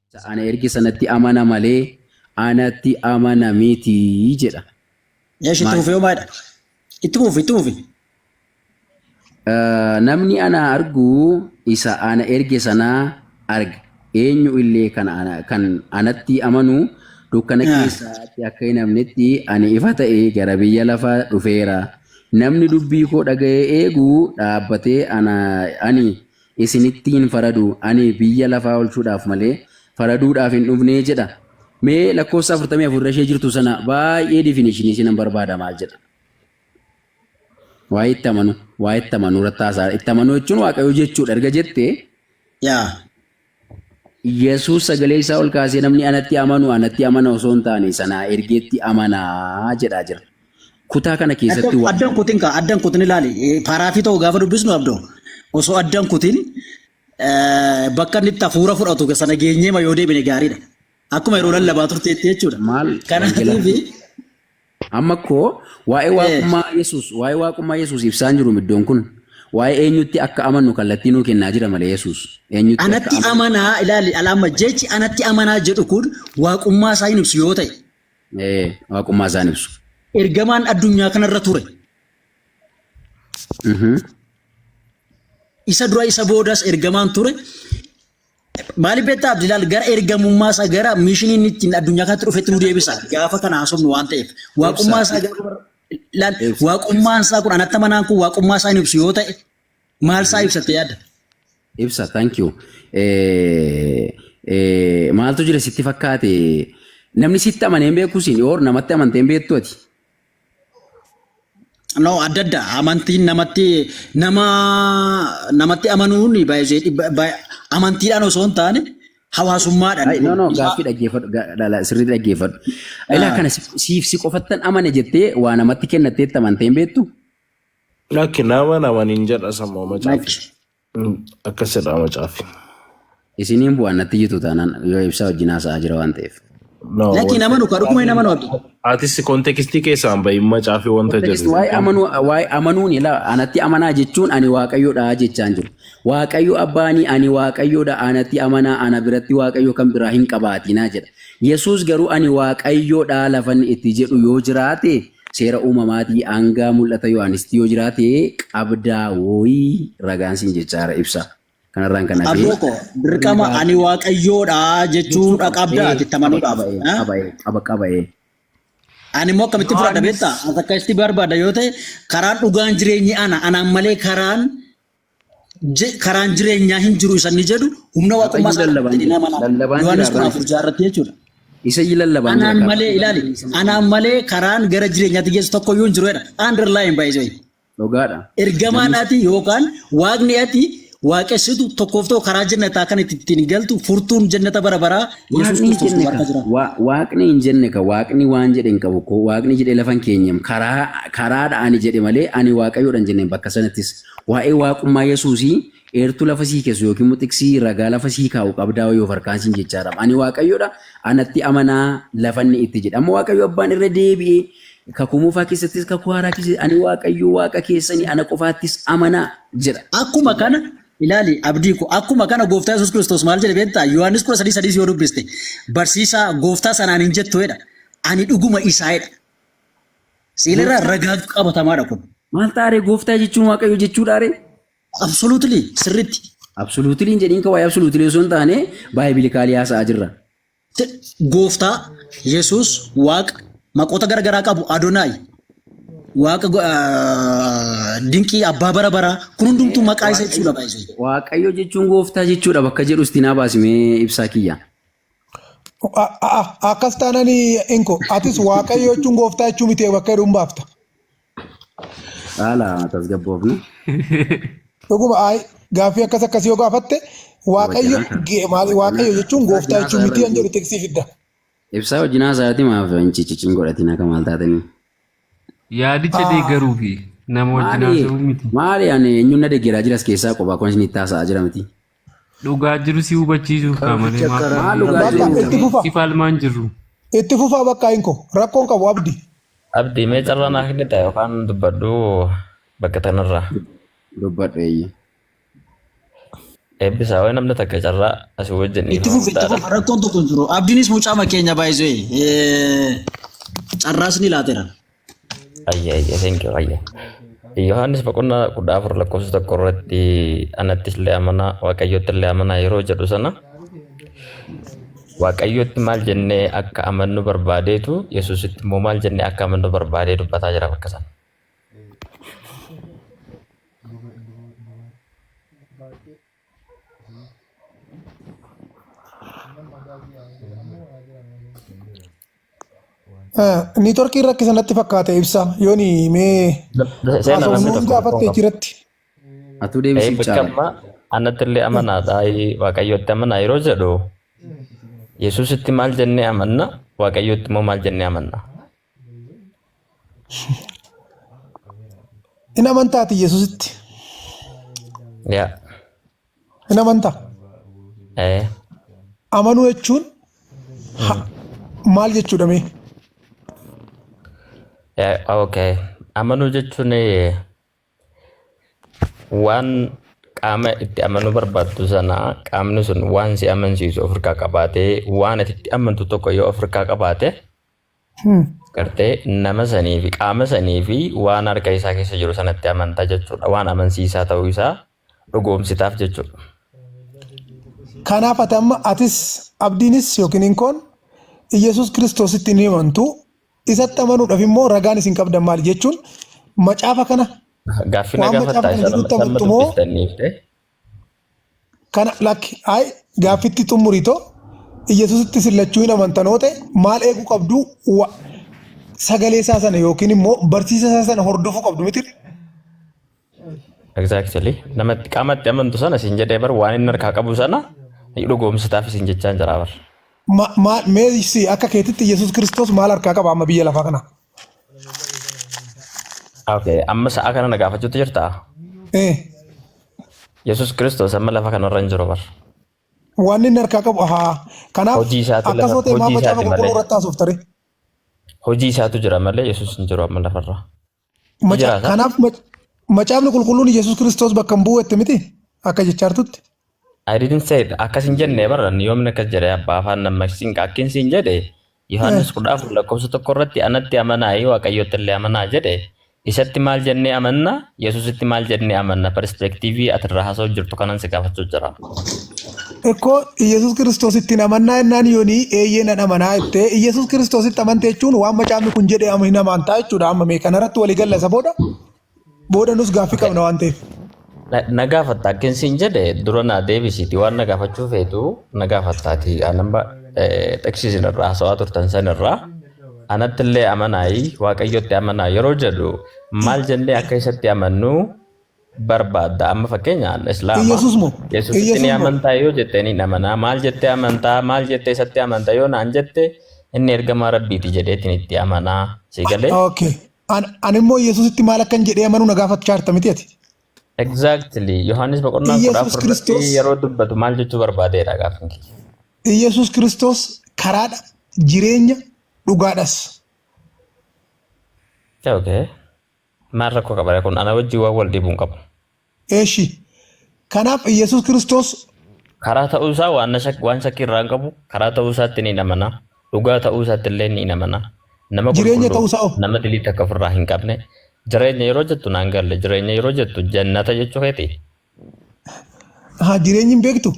Isa ana erge sanatti amana malee anatti amana miti jedha. Eesh itti fufee homaadha. Itti fufi itti fufi. Eh, Namni ana argu isa ana erge sana arga. Eenyu illee kan ana- kan anatti amanu dukkana Ah. keessaatti akka hin hafnetti ani ifa ta'e gara biyya lafaa dhufeera. Namni dubbii koo dhaga'ee eegu dhaabbatee ana ani isinitti hin faradu, ani biyya lafaa olchuudhaaf malee faraduudhaaf hin dhufne jedha. Mee lakkoofsa 44 irra ishee jirtu sana baay'ee definition isinan barbaada maal jedha? Waa'ee itti amanu, waa'ee itti amanuu irratti haasaa itti amanuu jechuun waaqayyoo jechuudha erga jette Yaa. Yesuus sagalee isaa ol kaasee namni anatti amanu anatti amana osoo hin taane sanaa ergeetti amanaa jedhaa jira. Kutaa kana keessatti Addan waan addan kutin kaa addan kutin ilaali Eh, paaraafii ta'u gaafa dubbisnu abdo osoo addan kutin eh, bakka inni itti hafuura fudhatu sana geenyee ma yoo deebine gaariidha. Akkuma yeroo lallabaa turteetti jechuudha. maal wangeelaa Kanaatiif amma koo waa'ee eh, waaqummaa Yesuus waa'ee waaqummaa Yesuus ibsaan jiru iddoon kun waa'ee eenyutti akka amannu kallattii nuu kennaa jira malee Yesuus eenyutti akka anatti amannu amanaa ilaali alaamma jechi anatti amanaa jedhu kun waaqummaa isaa hin ibsu yoo ta'e Ee, waaqummaa isaan ibsu. Ergamaan addunyaa kanarra ture. Mhm. Isa dura isa boodas ergamaan ture. Maaliif beektaa Abdilaal gara ergamummaa isaa gara miishinii inni ittiin addunyaa kanatti dhufetti nu deebisa. Gaafa kana haasofnu waan ta'eef. Waaqummaa isaa gaafa laal waaqummaan isaa kun anatta manaan kun waaqummaa isaa hin ibsu yoo ta'e Maal isaa ibsatte yaadda? Ibsa, thank you. Eh, eh, maaltu jira sitti fakkaate? Namni sitti amanee hin beeku siin yoor namatti amantee hin beektu ati. No, adda adda. Amantiin namatti nama namatti amanuun baay'ee dhibba- baay- amantiidhaan osoo hin taane hawaasummaadhaan. Ay, no, no, Isaa- gaaffii dhaggeeffadhu, ga- dhala, sirrii dhaggeeffadhu. Ilaa Ah. kana si- siif si qofattan amane jettee waa namatti kennatteetti amantee hin beektu? Lakki nama nama nin jedha sammoo macaafi. Lakki. Mm, Akkas jedha macaafi. Isiniin bu'aan natti jitu taanaan yoo ibsaa wajjin haasa'aa jira waan ta'eef. No, Lakki wanti- nama nuka dhuguma nama nu abdi. Atis kontekstii keessaan bahin macaafi wanta Kontekisti jedhu. waa'ee amanuu waa'ee amanuun ilaa anatti amanaa jechuun ani waaqayyoodha jechaan jiru. Waaqayyo abbaanii ani waaqayyoodha anatti amanaa ana biratti waaqayyo kan biraa hin qabaatinaa jedha. Yesuus garuu ani waaqayyoodha lafan itti jedhu yoo jiraate Seera uumamaatii aangaa mul'ata Yohaanisitti yoo jiraate qabdaa wooyii ragaan siin jechaara ibsa kanarraan kan hafee Abdoo koo dirqama dhugaa ani waaqayyoodha jechuu jechuu dha qaba. qabda Ee, ati itti qaba amanuu qaba dhaaf. ee, Ha? qaba ee, qaba qaba ee. Ani immoo akkamitti fudhadha Yohaannis beektaa? As akka itti barbaada yoo ta'e karaan dhugaan jireenyi ana. Anaan malee karaan Je- karaan jireenyaa hin jiru isa inni jedhu humna waaqummaa isaa lallabaan jedhee nama jira. Lallabaan jira, Yohaannis kudha abbaan. afur ja'a irratti jechuudha. Isa iyyuu lallabaan jira. Anaan karaa. malee ilaali. Anaan malee karaan gara jireenyaatti geessu tokko iyyuu hin jiru jedha. Underline by the way. Dhugaadha. Ergamaan ati yookaan waaqni ati waaqessitu tokkoof tokko karaa jannataa kan itti ittiin galtu furtuun jannata bara baraa Yesuus Waaqni hin Kiristoos jenne waaqaa ka. jira. Wa- Waaqni hin jenne ka. Waaqni waan jedhe hin qabu ko. Waaqni jedhe lafa hin keenyem. Karaa karaadha ani jedhe malee ani waaqayyoodha hin jenne bakka sanattis. Waa'ee Waaqummaa Yesuusii eertuu lafa sii keessu yookiin immoo xiqsii ragaa lafa sii kaa'u qabdaa wayii of harkaan siin jechaadhaam. Ani Waaqayyo dha, anatti amanaa lafa inni itti jedhe. Amma Waaqayyo Abbaan irra deebi'ee Kakuu Moofaa keessattis Kakuu Haaraa keessatti ani Waaqayyo Waaqa keessani ana qofaattis amanaa jedha. Akkuma Dhugaa kana dha. ilaali abdii ko akkuma kana gooftaa Yesuus Kiristoos maal jedhe beektaa Yohaannis 13 sadiis yoo dubbiste barsiisaa gooftaa sanaan hin jettu jedha ani dhuguma isaa jedha. Seenarraa Gooftaa- ragaatu qabatamaadha kun. Maal taaree gooftaa jechuun waaqayyo jechuudhaaree? Absolutely sirriitti. Absoluutili hin jedhiin kawaa absoluutili osoo hin taane baay'ee haasa'aa jirra. Te- Gooftaa Yesuus Waaqa maqoota garaagaraa qabu Adonaay Waaqa go- ah, dinqii abbaa bara baraa kun hundumtuu maqaa isa jechuudha baay'ee. Waaqayyo jechuun gooftaa jechuudha bakka jedhu itti naa baasimee ibsaa kiyya. A- a- a- Akkas taanaan inko atis waaqayyo jechuun gooftaa jechuu miti bakka jedhuun baafta. Haala tasgabboofne. Dhuguma ayi gaaffii akkas akkasii yoo gaafatte waaqayyo Wajjinaa ta'a. ge- maal- waaqayyo jechuun gooftaa Wajjinaa jechuu ta'a miti irra kan jedhu miti. teksii fidda. Ibsaa wajjinaa isaati maaf hin cicicin godhatiin akka maal taatanii. Yaadicha deeggaruu fi nama wajjin Maali haasa'uu miti. maali ani eenyuun na deeggaraa jiras keessaa qophaa kun isinitti haasa'aa jira miti. Dhugaa jiru si hubachiisuuf kaa malee Kanficha maaf karaa maaf Bakka deemuu itti fufa. si falmaan jirru. Itti fufaa bakka hin koo. Rakkoon qabu abdi. Abdi mee carraa naa kennita yookaan dubbadhu bakka tanarraa. dubbadhu eeyyee. Eebbisaa wayi namni takka carraa asii wajjin Itti dhiifama fufi itti guddaadha. fufa rakkoon tokko hin jiru. Abdiinis mucaa makeenya baay'isee carraas ni laatera. Ayya ayya thank you ayya. Yohaannis boqonnaa kudha afur lakkoofsa tokko irratti anattis illee amanaa waaqayyotti illee amanaa yeroo jedhu sana waaqayyotti maal jennee akka amannu barbaadeetu yesuusitti immoo maal jennee akka amannu barbaadee dubbataa jira bakka sana. Niitworkiin rakkisa natti fakkaate ibsa yooni mee Seenaa haasofnu namni hin tokko gaafatte tokko jiratti. Atuu Ee deebisiif bakka caala. ammaa anatti illee amanaadha ee, waaqayyotti amanaa yeroo jedhu yesuusitti maal jennee amanna waaqayyotti immoo maal jennee amanna In amantaa ati Yesuusitti? Yaa. In amantaa? Ee. Amanuu jechuun ha- maal jechuudha mee? Eh, okay. Amanuu jechuun eh, waan qaama itti amanuu barbaaddu sana qaamni sun waan si amansiisu ofirkaa qabaatee waan ati itti amantu tokko yoo ofirkaa qabaate gartee nama sanii fi qaama sanii fi waan harka isaa keessa jiru sanatti amantaa jechuudha waan amansiisaa ta'uu isaa dhugoomsitaaf jechuudha. Kanaaf ati amma atis abdiinis yookiin inkoon Iyyasuus Kiristoositti ni amantu isatti amanuudhaaf immoo ragaan isin qabdan maali jechuun macaafa kana Gaaffii na Waan macaafa gaafattaa kana isa jedhutti lammataa amma amantu moo? dubbistaniif ta'e Kana lakki ayi gaaffitti xumuri too Iyyasusitti isin lachuu hin amantan hoo ta'e maal eeguu qabdu wa sagalee isaa sana yookiin immoo barsiisa isaa sana hordofuu qabdu miti Exactly. Namatti qaamatti amantu sana isin jedhee bar waan inni harkaa qabu sana ni dhugoomsitaaf isin jechaan jira bar. Ma- maal mee si akka keetitti Iyyasuus Kiristoos maal harkaa qaba amma biyya lafaa kana? Okay, amma sa'a kana na gaafachuutti jirtaa? Eh, Yesus Kiristoos amma lafa kanarra hin jiru bar. wanni inni harkaa qabu haa. Kanaaf Hojii isaatiin akkas lafa- yoo ta'e hojii maaf isaatiin macaafa qulqulluu malee. irratti haasofta ree? Hojii isaatu jira malee Yesus hin jiru amma lafarra. Maca- Jiraata. Kanaaf mac- macaafni qulqulluun Yesuus Kiristoos bakka hin bu'u jette miti akka jechaa jirtutti. I didn't say it. Akkas hin jenne baran yoomni akkas jedhe abbaa afaan nammaksiin akkin siin jedhe Yohaannis Eh. kudha afur lakkoofsa tokko irratti anatti amanaa yoo waaqayyotti illee amanaa jedhe isatti maal jennee amanna yesusitti maal jennee amanna perspektiivii ati irraa haasa'u jirtu kanan si gaafachuu jira. Ekkoo Iyyasuus Kiristoos ittiin amannaa jennaan yoonii eeyyee nan amanaa jettee Iyyasuus Kiristoositti amante jechuun waan macaafni kun jedhe ama hin amantaa jechuudha amma mee kanarratti walii galla isa booda Booda nus gaaffii qabna waan ta'eef. Na- na gaafatta akkin siin jedhe dura naa deebisiiti waan na gaafachuu feetu na gaafattaati anamba xeksiisin irraa haasawaa turtan san irraa anatti illee amanaayi waaqayyotti amanaa yeroo jedhu maal jennee akka isatti amannu barbaadda amma fakkeenya an islaama Iyyasuus moo? yesusitti Iyyasuus ni moo? amantaa yoo jettee ni amanaa maal jettee amantaa maal jettee isatti amantaa yoo naan jette inni ergamaa rabbiiti jedheetiin itti amanaa si galee Okay. An- Ani immoo Yesuusitti maal akkan jedhee amanuu na gaafachaa jirta miti ati. Exactly. Yohaannis boqonnaa kudha Yesuus afur irratti Kiristoos- yeroo dubbatu maal jechuu barbaadeedha gaaffiin kiyya. Yesuus Kiristoos karaadha, jireenya, dhugaadhas. Okay. Maal rakkoo qaba kun ana wajjin waan wal dhiibu hin qabu. Eeshi. Kanaaf Iyyasuus Kiristoos. Karaa ta'uu isaa waan shak- waan shakkii irraa hin qabu. Karaa ta'uu isaatti ni amana. Dhugaa ta'uu isaatti illee ni amana. Nama Jireenya qulqulluu, ta'uu isaa hoo? nama dilii takka ofirraa hin qabne. Jireenya yeroo jettu naan galle. Jireenya yeroo jettu jannata jechuu keeti. Haa jireenyi hin beektu.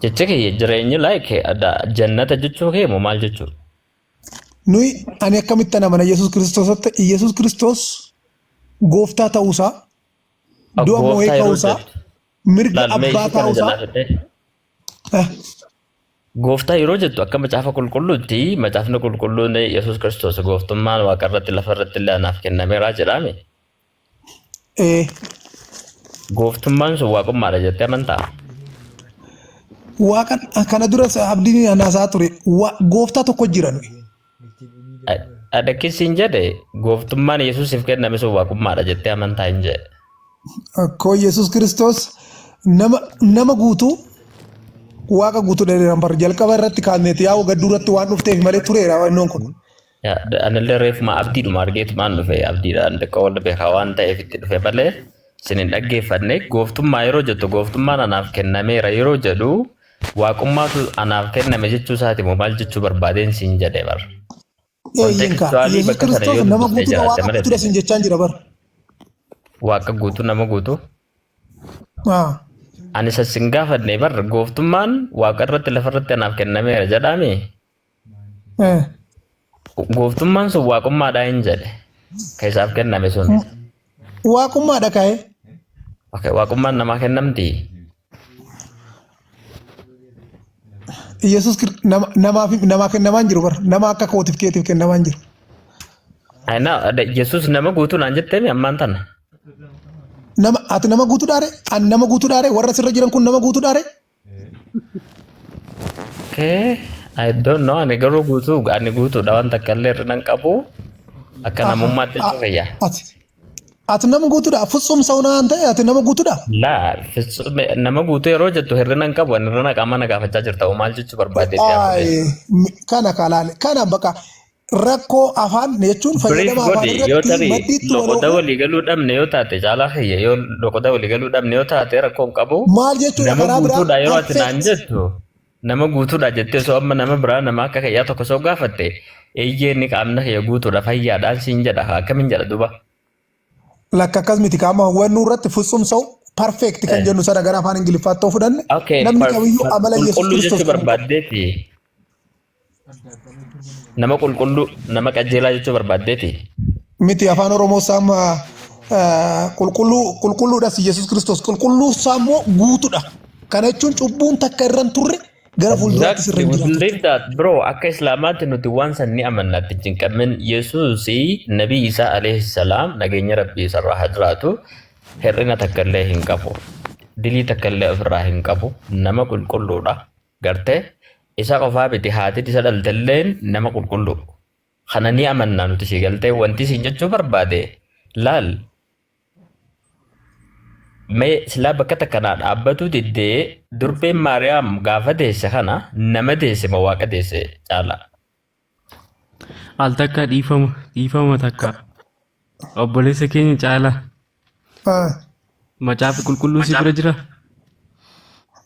Jechi kiyya jireenyi like jannata jechuu kee moo maal jechuudha? Nuyi ani akkamitti ana mana Yesuus Kiristoosatti Yesuus Kiristoos gooftaa ta'uusaa du'a Gooftaa moo'ee yeroo ka'uusaa jettu mirga laal mee abbaa ishee kana ta'uusaa jalaa fidhee. eh, Gooftaa yeroo jettu akka macaafa qulqulluutti macaafni qulqulluun Yesuus Kiristoos gooftummaan waaqa irratti lafa irratti illee anaaf kennameera jedhaame. Ee, Gooftummaan sun waaqummaadha jettee amantaa? waaqan kana duras abdiin anaasaa ture. Wa- Gooftaa tokko jira nuyi. Adakkissiin jedhe gooftummaan Yesuusiif kenname sun waaqummaadha jettee amantaa hin jedhe. Akkoo Yesuus Kiristoos nama nama guutuu waaqa guutuu dheeran bar jalqaba irratti kaameeti yaa gadduu irratti waan dhufteef malee tureera wannoon kun. Anillee reefuma abdiidhuma argeetumaan dhufe abdiidhaan xiqqoo wal beekaa waan ta'eef itti dhufe malee isin hin dhaggeeffanne gooftummaa yeroo jettu gooftummaan anaaf kennameera yeroo jedhu waaqummaatu anaaf kenname jechuu isaati moo maal jechuu barbaadeen siin jedhe bar. Eeyyen kaa Kontekstuwaalii Yesuus bakka sana yoo Kiristoos nama dubbisnee guutuudha jiraatte waaqa malee guutuudha siin jechaan jira bar. waaqa guutuu nama guutuu Haa. ani isa sin gaafanne bar gooftummaan waaqa irratti lafa irratti anaaf kennameera jedhaame Gooftummaan sun waaqummaadha hin jedhe. Ka isaaf kenname sun. Waaqummaadha ka'e. Okay, waaqummaan namaa kennamti. Yesuus Kir- nama- namaaf namaa kennamaa hin jiru bara. Nama akka kootiif keetiif kennamaa hin jiru. Ay, na- da- Yesuus nama guutuu naan jetteemi ammaan tana. Nama ati nama guutuudhaare an nama guutuudhaare warra sirra jiran kun nama guutuudhaare Okay. I don't know. Ani garuu guutuu ani guutuudha waan takka illee irra nan qabu. Akka namummaatti itti fayyaa. Ati ati nama guutuudha futsum sauna waan ta'e ati nama guutuudha. Laal nama guutuu yeroo jettu hir'ina hin qabu ani hir'ina qaamaa na gaafachaa jirta maal jechuu barbaadee Ay, mi- kana kalaale kana baqa rakkoo afaan jechuun Brief fayyadama afaan godhi yoo irratti tarii maddiitti wal loqoda oofuu walii galuu dhabne yoo taate caalaa kiyya yoo loqoda walii galuu dhabne yoo taate rakkoo hin qabu maal jechuudha nama karaa biraa guutuudha yeroo ati naan affect jettu nama guutuudha jettee osoo amma nama biraa nama akka kiyyaa tokko osoo gaafatte eeyyee inni qaamna kiyya guutuudha fayyaadhaan siin jedha akkamiin jedha duba lakka akkas miti kaama hawwannuu irratti futsum sa'u perfect kan jennu sana gara afaan ingiliffaatti yoo fudhanne okay namni per- kamiyyuu per- amala yesus qulqulluu kiristoos jechuu kan qabu barbaaddeeti Nama qulqulluu, nama qajeelaa jechuu barbaaddeeti. Miti afaan Oromoo saama qulqulluu qulqulluudhas Yesuus Kiristoos qulqulluu saammoo guutuudha. Kana jechuun cubbuun takka irra hin turre gara fuulduraatti sirra hin jiraatu. Believe that bro akka islaamaatti nuti waan san ni amanna itti hin cinqamin yesuusi nabii isaa alayhi salaam nageenya rabbii isarraa haa jiraatu hir'ina takka illee hin qabu dilii takka illee ofirraa hin qabu nama qulqulluudha Garte? Isa qofaa miti haatin isa dhaltelleen nama qulqullu. Kana ni amanna nuti si galte wanti siin jechuu barbaade laal mee silaa bakka takkanaa dhaabbatuu diddee durbeen Maariyaam gaafa deesse kana nama deesse ma waaqa deesse caala. Al takka dhiifama dhiifama takka obboleessa keenya caalaa Ah, macaafi qulqulluu si bira jira.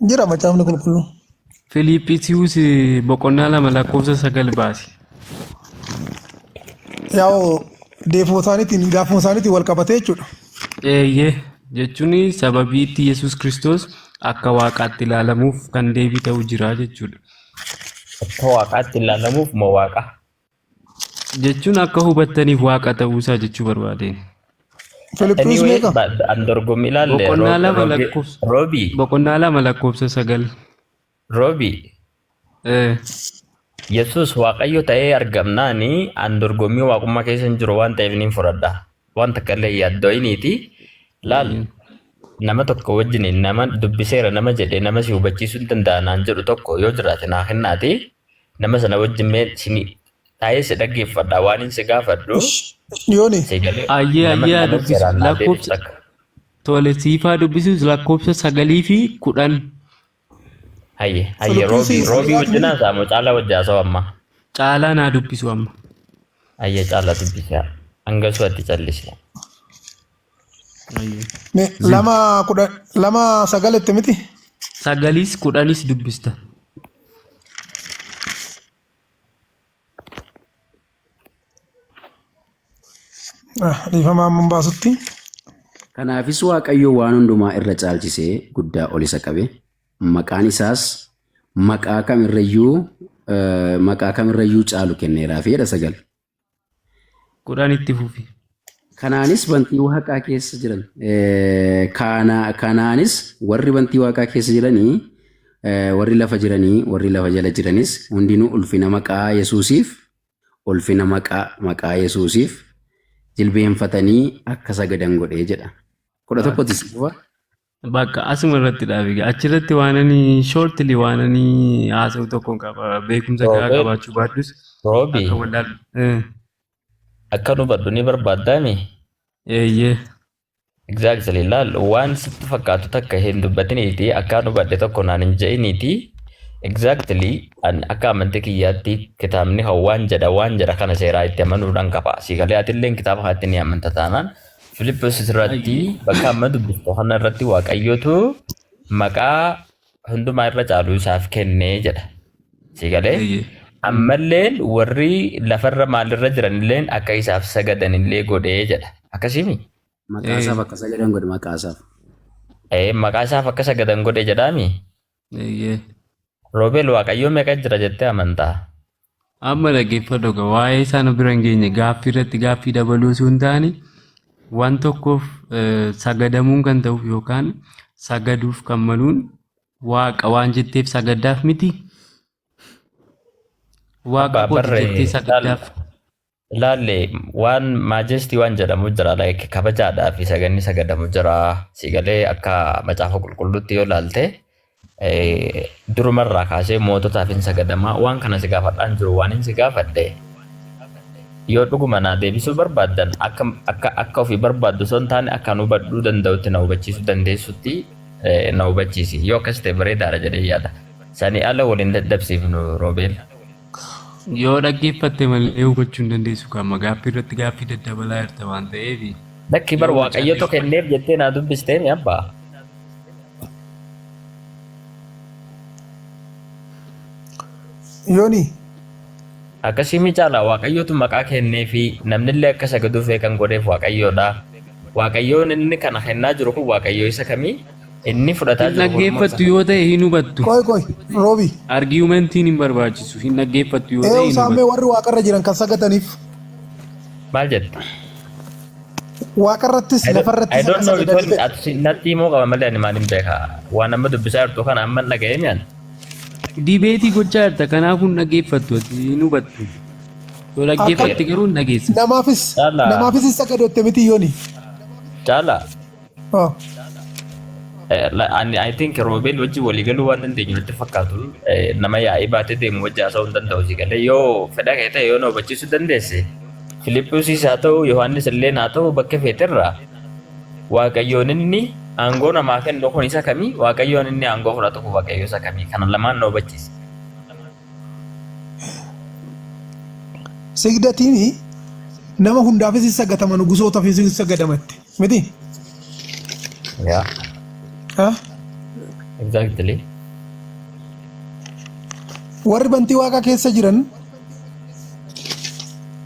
Jira macaafni qulqulluu. Filiiphisius boqonnaa lama lakkoofsa sagal baasi. Yaa'u deefuma isaaniitiin gaafuma isaaniitiin wal qabatee jechuudha. Eeyyee jechuun sababii itti Yesuus Kiristoos akka waaqaatti ilaalamuuf kan deebii ta'u jira jechuudha. Akka waaqaatti ilaalamuuf ma waaqa? Jechuun akka hubattaniif waaqa ta'uusaa jechuu barbaadeen. Filiphisius Anyway, meeqa? ba- an dorgommii ilaalle. Boqonnaa Roobi- lama Roobi- lakkoofsa. Roobi, Boqonnaa lama lakkoofsa sagal. Roobi, Eh, Yesuus Waaqayyo ta'ee argamnaani an dorgommii waaqummaa keessa hin jiru waan ta'eef niin fudhadha. waan takka illee hin yaaddo'iniiti laal Mhm. nama tokko wajjin nama dubbiseera nama jedhe nama si hubachiisuu hin danda'a naan jedhu tokko yoo jiraate naa kennaati nama sana wajjin mee sini taa'ee si dhaggeeffadha waan hin si gaafadhu Ish, Yooni, si galee Ayyee, nama ayyee, nama dubbisi. seeraan naa deebisu Lakkoofsa- takka. Tole siifaa dubbisuus lakkoofsa sagalii fi kudhan Hayye hayye Salphina roobii seensa. roobii wajjin haasaa moo caalaa wajjin haasaa amma. Caalaa naa dubbisu amma. Hayye caalaa dubbisaa. Hangasuu atti callisee. Ayyo. Me lama kudha lama sagal itti miti. Sagaliis kudhanis dubbista. Dhiifama amma hin baasutti. Kanaafis Waaqayyo waan hundumaa irra caalchisee guddaa ol isa qabe. Maqaan isaas maqaa kamirrayyuu eh, maqaa kamirrayyuu caalu kenneeraaf jedha sagal. Kudhan itti fufi. Kanaanis bantii waaqaa keessa jiran kanaanis warri bantii waaqaa keessa jiranii warri lafa jiranii warri lafa jala jiranis hundinuu ulfina maqaa Yesuusiif ulfina maqaa maqaa Yesuusiif jilbeenfatanii akka sagadan godhee jedha. Kudha tokkotti si dhufa. Bakka asuma irratti dhaabi. Achirratti waan ani shortly waan ani haasa'u tokko qaba. Beekumsa gahaa qabaachuu baadhus akka wallaalu. Akka dubbadhu ni barbaaddaa mii? Eeyyee. Exactly laal waan sitti fakkaatu takka hin dubbatiniiti akkaan hubadhe tokko naan hin je'iniiti exactly an akka amantii kiyyaatti kitaabni kan waan jedha waan jedha kana seeraa itti amanuudhaan qaba siigalee atilleen kitaaba kanatti ni amanta taanaan Filippos irratti bakka amma dubbiftu kana irratti waaqayyootu maqaa hundumaa irra caalu isaaf kenne jedha. Si galee? Eeyyee. Ammalleen warri lafarra maalirra jiranilleen akka isaaf sagadanillee godhee jedha. Akkasimi? Maqaa isaaf akka sagadan godhe maqaa isaaf. Ee, maqaa isaaf akka sagadan godhe jedhaami. Eeyyee. Roobeel Waaqayyoo meeqa jira jettee amantaa? Amma dhaggeeffadhu egaa waa'ee isaa nu bira hin geenye gaaffii irratti gaaffii dabaluu osoo hin taane waan tokkoof eh, sagadamuun kan ta'uuf yookaan sagaduuf kan maluun waaqa waan jetteef sagaddaaf miti waaqa Abbaa kooti barree jettee sagaddaaf Laalle waan maajestii waan jedhamu jira like kabajaadhaa fi saganni sagadamu jira siigalee akka macaafa qulqulluutti yoo laalte eh, durumarraa kaasee moototaaf hin sagadamaa waan kana si gaafadhaan jiru waan hin si gaafadhe yoo dhuguma naa deebisuu barbaaddan akka akka akka ofii barbaaddu osoo hin taane akka nu hubadhuu danda'utti na hubachiisuu dandeessutti eh, na hubachiisi yoo akkas ta'e bareedaadha jedhee yaada sanii ala waliin dadhabsiifnu roobeel. Yoo dhaggeeffatte malee hubachuu hin dandeessu kan amma gaaffii irratti gaaffii daddabalaa jirta waan ta'eef. Lakki bar waaqayyotu kenneef jettee naa dubbistee mi abba? Yoni. Akkasii mi caala waaqayyotu maqaa kenneefi namnillee akka sagaduuf kan godheef waaqayyoodha. Waaqayyoon inni kana kennaa jiru kun waaqayyoo isa kamii? Inni fudhataa Hin jiru morma dhaggeeffattu isaa. yoo ta'e hin hubattu. Qoy qoy Roobi. Argumentiin hin barbaachisu. Hin dhaggeeffattu yoo ta'e Eewu hin isaan mee hubattu. warri waaqarra jiran kan sagadaniif Maal jette? waaqarrattis I don't, I lafarrattis don't akka know sagadan because jedhe. ati natti himuu qaba malee ani maaliin beeka. Waan amma dubbisaa jirtu kana amma hin dhaga'ee mi'an. Dibeetii gochaa jirta kanaafuu hin dhaggeeffattu ati hin hubattu. Yoo dhaggeeffatte garuu hin dhageessa. Namaafis Caalaa. namaafis hin sagadotte miti yooni. Caalaa. Oh. I think roobeen wajjin walii galuu waan dandeenyu natti fakkaatu nama yaa'ii baatee deemu wajjin haasa'uu hin danda'u si galee yoo fedha kee ta'e yoo na hubachiisuu dandeesse Filiphisiis haa ta'u Yohaannis illee haa ta'u bakka feeterraa waaqayyoon inni aangoo namaa kennu kun isa kamii waaqayyoon inni aangoo fudhatu kun waaqayyoo isa kamii kana lamaan na hubachiisa. Sigdatiini nama hundaafis hin sagatama nugusootafis hin sagadama itti. Miti? Yeah, Haa? exactly. Warri bantii waaqaa keessa jiran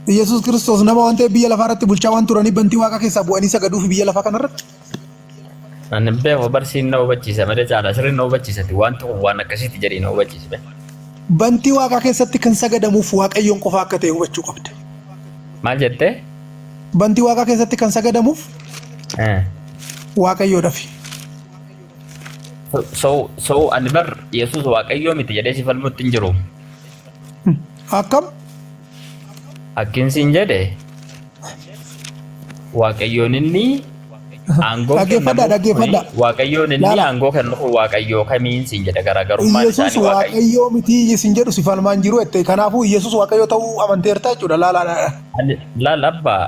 Yesuus Kiristoos nama waan ta'eef biyya lafaa irratti bulchaa waan turaniif bantii waaqaa keessaa bu'anii sagaduuf biyya lafaa kanarratti Ani hin beeku barsiin na hubachiisa malee caalaa sirriin na hubachiisati wanti kun waan akkasiiti jedhee na hubachiisa. bee. bantii waaqaa keessatti kan sagadamuuf waaqayyoon qofa akka ta'e hubachuu qabda. Maal jettee? Bantii waaqaa keessatti kan sagadamuuf Eh. waaqayyoodhafi. So, so ani bar Yesuus waaqayyoo miti jedhee si falmutti hin jiru. Akkam? Akkin siin jedhe waaqayyoon inni Aangoon Dhaggeeffadhaa, kennamuuf dhaggeeffadhaa. kuni Waaqayyoon inni Laala. aangoo kennu kun Waaqayyoo kamiin siin jedha garaagarummaan Iyyasuus isaanii Waaqayyo. waaqayyoo mitii isin jedhu si falmaa hin jiru jette. Kanaafuu Iyyasuus waaqayyoo ta'uu amanteerta jechuudha. Laalaadha. Ani laal abbaa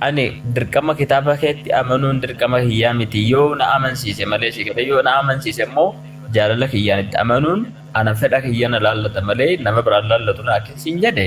ani dirqama kitaaba keetti amanuun dirqama kiyyaa miti yoo na amansiise malee si jedhe yoo na amansiise immoo jaalala kiyyaan itti amanuun ana fedha kiyya na laallata malee nama biraan laallatu na akkin siin jedhe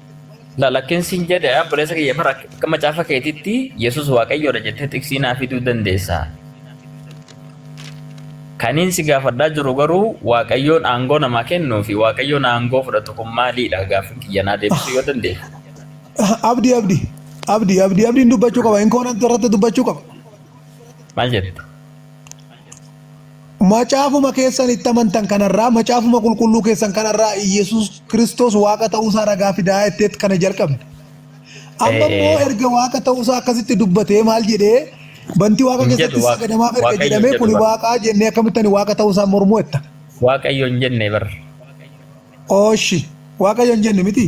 Lakkin siin jedhe obboleessa kiyya bara akka macaafa keetitti Yesuus Waaqayyoodha jettee xiqsii naa fiduu dandeessa. Kaniin si gaafadhaa jiru garuu Waaqayyoon aangoo namaa kennuu fi Waaqayyoon aangoo fudhatu kun maaliidha gaaffiin kiyya naa deebisuu yoo dandeessa. Abdi abdi abdi abdi abdiin dubbachuu qaba inkoonan irratti dubbachuu qaba. Maal jette? Macaafuma keessan itti amantan kanarraa, macaafuma qulqulluu keessan kanarraa Iyyasuus Kiristoos Waaqa ta'uusaa ragaa fidaa jetteet kana jalqabde. Amma Ee, immoo ee. erga Waaqa ta'uusaa akkasitti dubbatee maal jedhee bantii Waaqa Hin jedhu keessatti Waaqa- sagadamaaf erga Waaqayyo hin jedhamee jedhu kuni bara. Waaqaa jennee akkamitti ani Waaqa ta'uusaa mormuu jetta. Waaqayyo hin jenne bar. Ooshi. Waaqayyo hin jenne miti?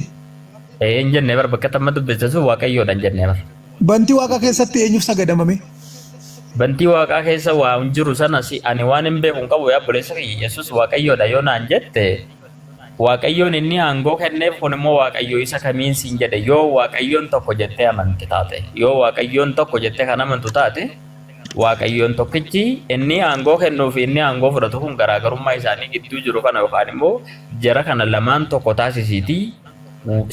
Ee hin jenne bar bakka tamma dubbiste sun waaqayyoodha hin jenne bar. Bantii waaqaa keessatti eenyuuf sagadamame? Bantii waaqaa keessa waa hin jiru sana si ani waan hin beeku hin qabu yaa obboleessa kiyya Yesuus waaqayyoodha yoo naan jette waaqayyoon inni aangoo kenneef kun immoo waaqayyo isa kamiin siin jedhe yoo waaqayyoon tokko jettee amante taate yoo waaqayyoon tokko jettee kan amantu taate Waaqayyoon tokkichi inni aangoo kennuu fi inni aangoo fudhatu kun garaagarummaa isaanii gidduu jiru kana yookaan immoo jara kana lamaan tokko taasisiitii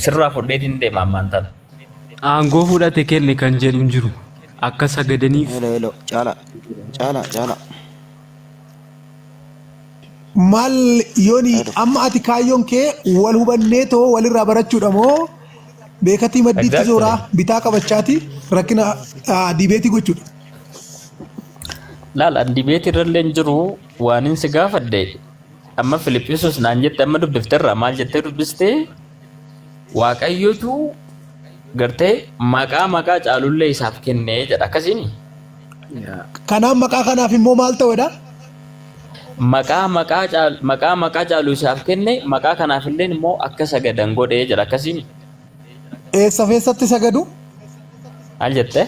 sirraa fudheetiin deema ammaan tana. Aangoo fudhate kenne kan jedhu hin jiru. Akka sagadaniif Hello, hello. Caalaa. Caalaa, caalaa. Maal yoni Haa dhufu. amma ati kaayyoon kee wal hubannee too walirraa barachuudha moo beekatii maddiitti Exactly. zooraa bitaa qabachaati rakkina ah, diibeetii gochuudha. Laal an dibeetii irrallee hin jiru waanin si gaafadhe amma Filiphisuus naan jette amma dubbifterra maal jettee dubbiste Waaqayyotu gartee maqaa maqaa caalullee isaaf kenne jedha akkasiin Kanaaf maqaa kanaaf immoo maal ta'edha? maqaa maqaa caal maqaa maqaa caalu isaaf kenne maqaa kanaaf illee immoo akka sagadan godhe jedha akkasiin Eessa keessatti sagadu? maal jette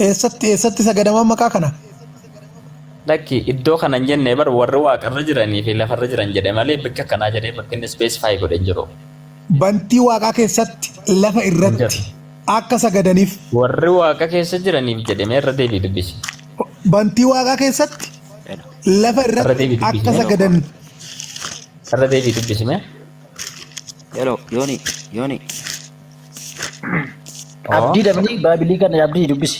Eessatti eessatti sagadamaan maqaa kana? Lakki iddoo kana hin jenne bar warri waaqarra jiranii fi lafarra jiran jedhe malee bakka kanaa jedhee bakki inni specify godhe hin jiru. Bantii waaqaa keessatti lafa Hin irratti jiru. akka sagadaniif Warri waaqa keessa jiraniif jedhe mee irra deebii dubbisi. bantii waaqaa keessatti lafa Irra irratti deebii akka dubbisi. sagadan Irra deebii dubbisi mee. Hello, Yoni, Yoni. Oo. Abdii dabni baabilii kana abdii dubbisi.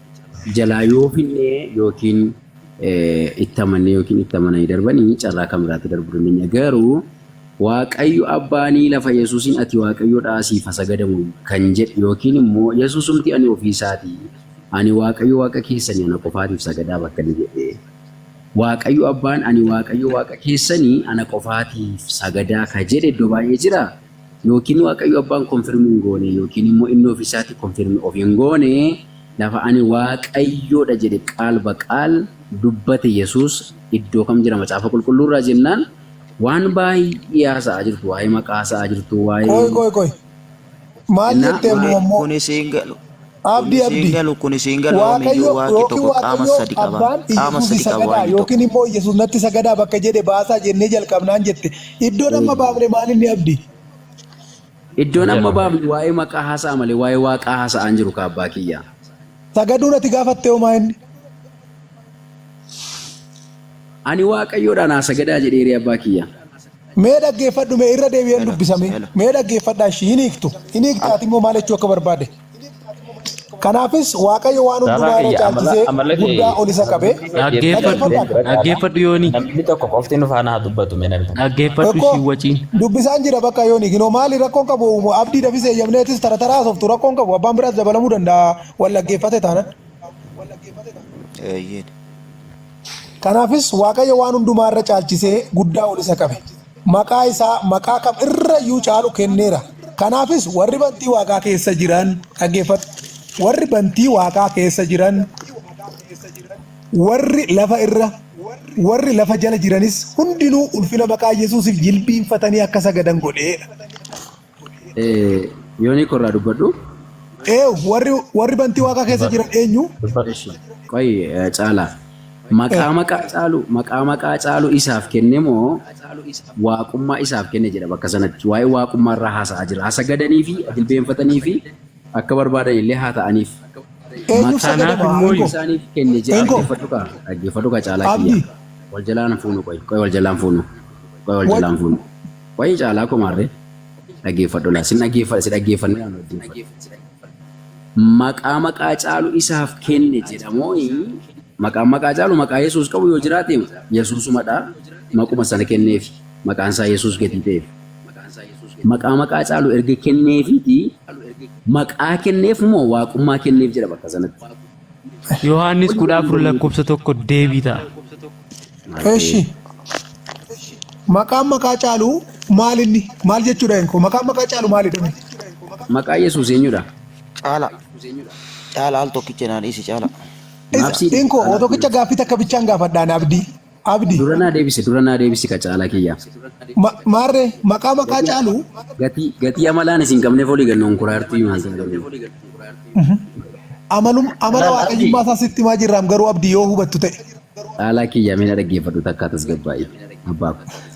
jalaa yoo finne yookiin itti amannee yookiin itti amananii darbanii carraa kan biraatti darbuu dandeenya. Garuu Waaqayyo abbaanii lafa Yesuusiin ati Waaqayyoodha asiif ha sagadamu kan jedhe yookiin immoo Yesuusumti ani ofii isaati ani Waaqayyo Waaqa keessanii ana qofaatiif sagadaa bakka inni jedhe Waaqayyo abbaan ani Waaqayyo Waaqa keessanii ana qofaatiif sagadaa ka jedhe iddoo baay'ee jira. Yookiin Waaqayyo Abbaan confirm hin goone yookiin immoo inni ofii isaati confirm of hin goone lafa ani Waaqayyoo dha jedhe qaal ba qaal dubbate Yesuus iddoo kam jira macaafa qulqulluu irraa jennaan waan baay'ee haasa'aa jirtu waa'ee maqaa haasa'aa jirtu waa'ee Qoy qoy qoy. Maal jennaa jette waa'ee immoo ammoo? Kunis hin galu. Abdi Abdi. Kun isiin galu kun isiin galu Waaqayyo yoomiyyuu waaqi yookiin tokko qaama Waaqayyo sadi qaba abbaan qaama Iyyasuufi sadi qaba sagadaa waaqni yookiin tokko. immoo Iyyasuus natti sagadaa bakka jedhe baasaa jennee jalqabnaan jette. Iddoon amma baafne maalinni Abdi? Iddoon amma Jedhu. baafne waa'ee maqaa haasa'a malee waa'ee waaqaa haasa'aa hin jiru kaa abbaa kiyya. Sagaduun ati gaafatte hoo maa inni? Ani waaqayyoodhaan haa sagadaa jedheeree abbaa kiyya. Mee dhaggeeffadhu mee irra deebi'een dubbisa mee mee dhaggeeffadhaa ishii hin hiiktu hin hiikti ati immoo maal jechuu akka barbaade kanaafis waaqayyo waan hundumaa irra caalchisee guddaa ol isa qabe Dhaggeeffadhu. Dhaggeeffadhu yoonii. Namni tokko qofti nu faana haa dubbatu mee namni tokko. Dhaggeeffadhu Tokko ishii waciin. dubbisaan jira bakka yoo niikinoo maali rakkoon qabu abdii dafis eeyyamneetis tara taraa haasoftu rakkoon qabu abbaan biraas dabalamuu danda'a wal dhaggeeffate taanan. Eeyyeen. Kanaafis Waaqayyo waan hundumaa irra caalchisee guddaa ol isa qabe. Maqaa isaa maqaa kam irra iyyuu caalu kenneera. Kanaafis warri bantii waaqaa keessa jiran dhaggeeffadhu. Warri bantii waaqaa keessa jiran, warri lafa irra, warri lafa jala jiranis hundinuu ulfina maqaa Yesuusiif jilbiinfatanii akka sagadan godheera. Yoonii korraa dubbadhu. Ee warri warri bantii waaqaa keessa Dubbadhu. jiran eenyu? Dubbadhu. Ishi. Qoyi eh, caalaa. Eh, Maqaa maqaa caalu maqaa maqaa caalu isaaf kenne moo waaqummaa isaaf kenne jedha bakka sanatti waa'ee waaqummaa irraa haasa'aa jira. Haa sagadanii fi jilbeenfatanii fi akka barbaadan illee haa ta'aniif. eenyuuf Maqaanaaf sagadama? immoo Ingo Ingo. isaaniif kenne jedha Ingo. dhaggeeffadhu kaa dhaggeeffadhu kaa caalaa kiyya. Abdi. Wal jalaan fuunu qoyi qoyi wal jalaan fuunu qoyi wal Wal, jalaan fuunu. Wayii caalaa koo maarree dhageeffadhu laa sin dhageeffadha si dhageeffannee yaa nuuf duuffadhu maqaa maqaa caalu isaaf kenne jedhamooyi maqaan maqaa caalu maqaa yesuus qabu yoo jiraate yesuusumadha maquma sana kenneef maqaan isaa yesuus gatii ta'eef maqaa maqaa caalu erga kenneefiiti maqaa kenneef moo waaqummaa kenneef jedha bakka sanatti Yohaannis kudha afur lakkoofsa tokko deebii ta'a. Eshi. Maqaan maqaa caalu maal inni? Maal jechuudha inko? Maqaan maqaa caalu maalidha? mee? Maqaa Yesuus eenyudha? Caala. Caala al tokkicha naan dhiisi caala. Isa- Maabsiin- Inko, oo tokkicha gaaffii takka bichaan gaafadhaan abdii. Abdi. Dura naa deebisi dura naa deebisi ka caalaa kiyyaa. Ma- Maarree maqaa maqaa Gatii caalu gatii gatii amalaan isin qabneef olii ganna konkolaartuu himaan kana garuu. amalum amala Laal abdi waaqayyummaa isaa sitti himaa jirraam garuu abdi yoo hubattu ta'e. caalaa kiyyaa mee na dhaggeeffadhu takkaa tasgabbaa'ii abbaa ko. Laamee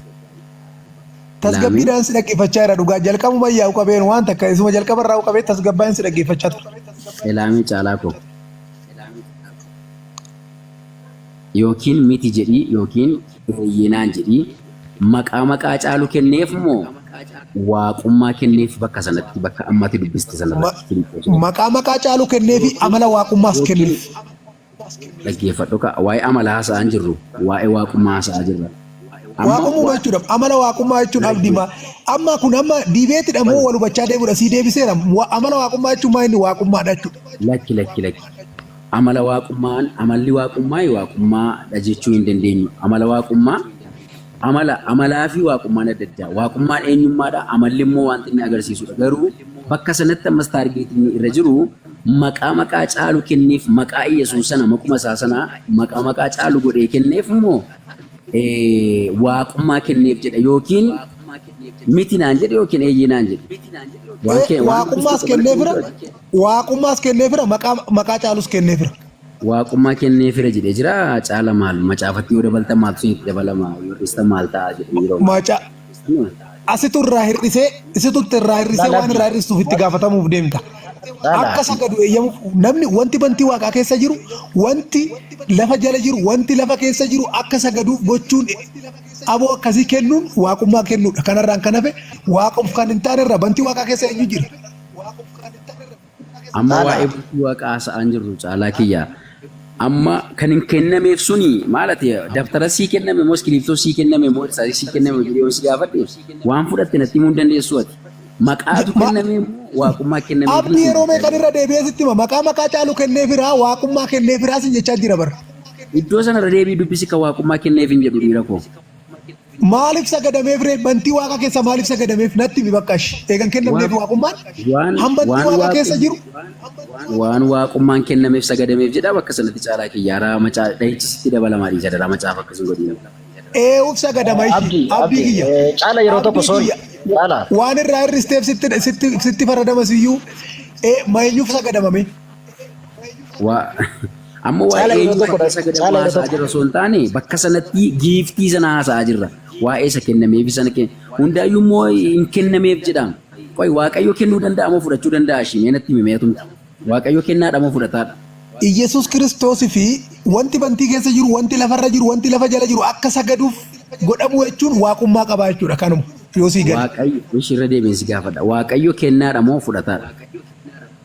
Tasgabbiidhaan si dhaggeeffachaa jira dhugaa jalqabuma yaa'u qabeen waan takka isuma jalqaba irraa qabee tasgabbaa'een si dhaggeeffachaa ture. elaamee caalaa ko. Yookiin miti jedhii yookiin eeyyee naan jedhii maqaa maqaa Caalu kenneef moo Waaqummaa kenneef bakka sanatti bakka amma ati dubbiste Ma, sanarratti Filiphoo jedhama. maqaa maqaa Caalu kenneefi Yookiin amala Waaqummaas yookiin kenneef. dhaggeeffadhu kaa waa'ee amalaa haasa'aa hin jirru waa'ee Waaqummaa haasa'aa jirra. Amma Waaqummuuma wa, jechuudha. Amala Waaqummaa jechuun abdi ma, dhaggeeffadhu. amma kun amma diibeetidha moo Fali. wal hubachaa deemudha sii deebiseera. Wa, amala Waaqummaa jechuun maa inni Waaqummaadha jechuudha. Lakki lakki lakki. Amala Waaqummaa Amalli Waaqummaa Waaqummaa dha jechuu hin dandeenyu. Amala Waaqummaa Amala Amalaa fi Waaqummaan adda addaa. Waaqummaan eenyummaa dha, amalli immoo wanta inni agarsiisu dha. Garuu bakka sanatti ammas taargeetii inni irra jiru maqaa maqaa caalu kenneef maqaa Iyyasuus sana maquma isaa sana maqaa maqaa caalu godhee kenneef immoo Waaqummaa kenneef jedha yookiin miti naan jedhe yookiin eeyyee naan jedhe. Waan kee waan Waaqummaas kenneefira Waaqummaas kenneefira maqaa maqaa caalus kenneefira. Waaqummaa kenneefira jedhee jira caala maal macaafatti yoo dabaltan maaltu isinitti dabalama yoo hir'istan maal ta'a jedhee yeroo Maca asitu irraa hir'isee isitutti irraa hir'isee waan irraa hir'istuuf itti gaafatamuuf deemta. Akka sagadu eeyyamuuf namni wanti bantii waaqaa keessa jiru wanti lafa jala jiru wanti lafa keessa jiru akka sagaduuf gochuun aboo akkasii kennuun waaqummaa kennuudha. Kanarraan kan hafe waaqof kan hin taane irra bantii waaqaa keessa eenyu jira? Amma Haala. waa'ee bultii waaqaa haasa'aan jirru caalaa kiyya. Amma kan hin kennameef suni maal ati dabtara sii kenname moo iskiriiptoo sii kenname moo irsaasii sii kenname jedhee yoo si gaafadhe waan fudhatte natti himuu hin dandeessu ati. Maqaatu Ma- kenname moo waaqummaa kenname Abdi jechuun yeroo meeqan irra deebi'ee sitti hima maqaa maqaa caalu kennee firaa waaqummaa kennee firaa sin jechaa jira bara. Iddoo sana irra deebii dubbisi kan waaqummaa kenneef hin jedhu dhiira koo. Maaliif sagadameef ree? Bantii waaqa keessa maaliif sagadameef? Natti himi bakka ishi. Eegan kennamneef Waaq- waaqummaan waan han bantii waan waaqa keessa waaqum jiru waan waaqummaan kennameef sagadameef jedha bakka sanatti caalaa kiyya haraa macaa dhahichi sitti dabalamaa dhiisa daraa macaaf akkas hin godhiin. eewuf sagadama ishi. Abdi, Abdii Abdi, kiyya. eh, caala yeroo tokko Abdii sorry. kiyya. Caala. Waan irraa hir'isteef sitti sitti sitti faradama siyyuu. Eh, Eenyuuf sagadamame? Waa amma waa'ee Caala yeroo eenyuu tokko fakkeessa gada caala yeroo haasaa tokko. jirra osoo hin taane bakka sanatti giiftii sana haasaa jirra. Waa'ee isa kennameefi sana kenna. Hundaayyuu immoo hin kennameef jedhaam. Qoy waaqayyo kennuu danda'a moo fudhachuu danda'a ishii mee natti himee atumti. Waaqayyo kennaadha moo fudhataadha? Iyyasuus Kiristoos fi wanti bantii keessa jiru, wanti lafarra jiru, wanti lafa jala jiru akka sagaduuf godhamuu jechuun waaqummaa qabaa jechuudha kanuma yoo sii gale. Waaqayyo ishii irra deebiin si gaafadha. Waaqayyo kennaadha moo fudhataadha?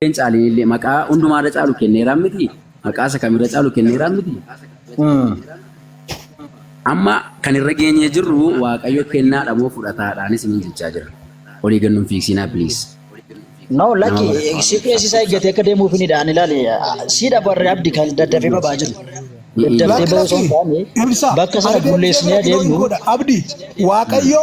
Isheen caaliin illee maqaa hundumaa irra caalu kenneeraa miti. Maqaa isa kam irra caalu kenneeraa miti. Amma kan irra geenyee jirru Waaqayyo kennaadha moo fudhataadhaanis ni jechaa jira. Olii gannuun fiigsiinaa please. No, Nama lakki barbaadu. CPS isaa eeggatee akka deemuuf ni dhaan ilaali. Siidha barree abdi kan daddafee babaa jiru. Daddafee Lakki bahuu osoo hin lakki taane ibsa bakka sana argee bulleessinee deebi'ee yoo adeemnu godha abdi waaqayyo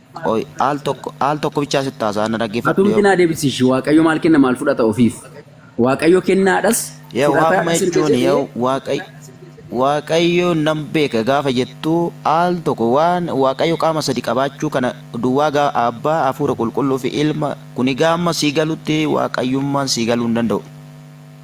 Qoy al tokko al tokko bichaa sitti haasa'a na dhaggeeffadhu Atumti yoo. naa deebisiishi waaqayyo maal kenna maal fudhata ofiif waaqayyo kennaadhas Yoo fudhataa waamuma dhas erga jechuun jedhee yoo waaqayyo waaqayyo nan beeka gaafa jettu al tokko waan waaqayyo qaama sadi qabaachuu kana duwwaa gaa abbaa hafuura qulqulluu fi ilma kuni gaamma sii galutti waaqayyummaan sii galuu hin danda'u.